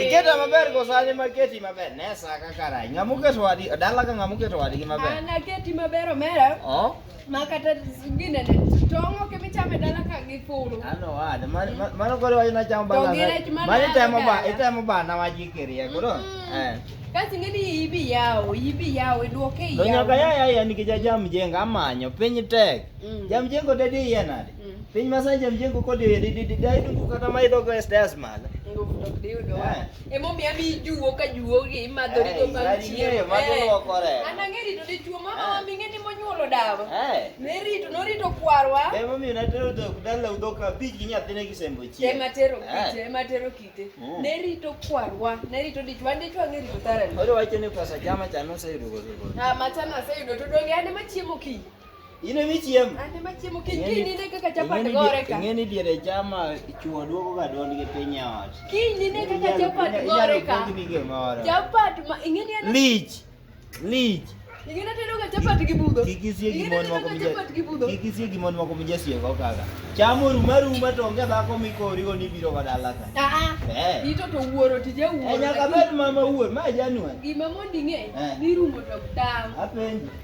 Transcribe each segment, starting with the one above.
Iketa maber go sani ma keti maber. Ne sa ka karai. Ngamu ke swadi, dala ka ngamu ke swadi ki maber. Ana keti maber omera. Oh. Ma kata gine ne tongo ke mi chame dala ka gi fulu. Ano ad, mano kore wajina chamo bala. Mani temo ba, itemo ba na waji kirie kuro. Mm. Eh. Kasi ngeni ibi yao, ibi yao, iduoke yao. Nonyaka yaya yani kijaja mjenga amanyo, penyi tek. Mm. Jamjengo dedi yenade. Mm. Piny masanja mjengo kodi e didi didi ai dungu kata mai dogo e stairs mal. Nguvu to kdi udo. Eh. E mo miya mi juwo ka juwo gi ma do ri do bang chiemo. Eh, ma do eh. kore. Ana ngeri to di chuo mama wa eh. minge ni mo nyuolo dawa. Eh. Ne rito no rito kwarwa. E mo mi na tero do dala udo ka bi gi nyathine gi sembo chi. E ma tero kite, e ma tero kite. Mm. Ne rito kwarwa, ne rito di chuo ndi chuo ngeri to tara. Oro wacho ni pesa jama chano se yudo go. Ah, ma chana se yudo to donge ane ma chiemo ki. In emi chiemo. An ema chiemo kiny kiny nine kaka chapat gore ka. Ing'eni diere chama chuo duogo ga duond gi piny e ot. Kiny nine kaka chapat gore ka. Chapat ma ing'eni an lich. Lich. Ing'eni atedo ga chapat gi budho. Kik isie gi mon moko mje. Kik isie gi mon moko mje sie go kaka. Cham oruma ruma to onge dhako mikori go ni biro ga dala ka. Ah ah. Eh. Ito to wuoro tije wuoro. Eh, nyaka med mama wuor ma januari. Gima mondi ng'e eh. ni rumo to dawo. Apenji.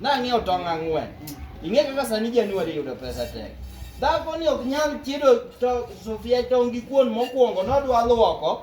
nang'iewo tong' ang'wen ing'e kaka sani januari yudo pesa tek dhako ni ok nyal chiedo sofia tong' gi kuon mokwongo nodwa lwoko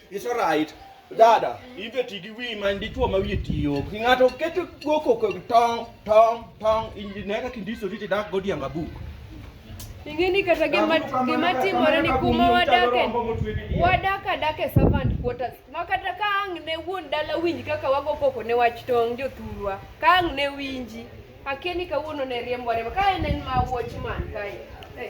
It's all right. Dada, ibe ti gi wi man dichuo ma wiye tiyo. Ki ng'ato keto goko ko tong tong tong injine ka kindiso riti dak godianga buk. Ingeni kata gima gima timore ni kuma wadake. Wadak adak e servant quarters. Ma kata ka ang' ne wuon dala winj kaka wago koko ne wach tong' jothurwa. Ka ang' ne winji. Akia ni kawuono ne riembwa riemba. Ka en en ma watchman kae. Hey.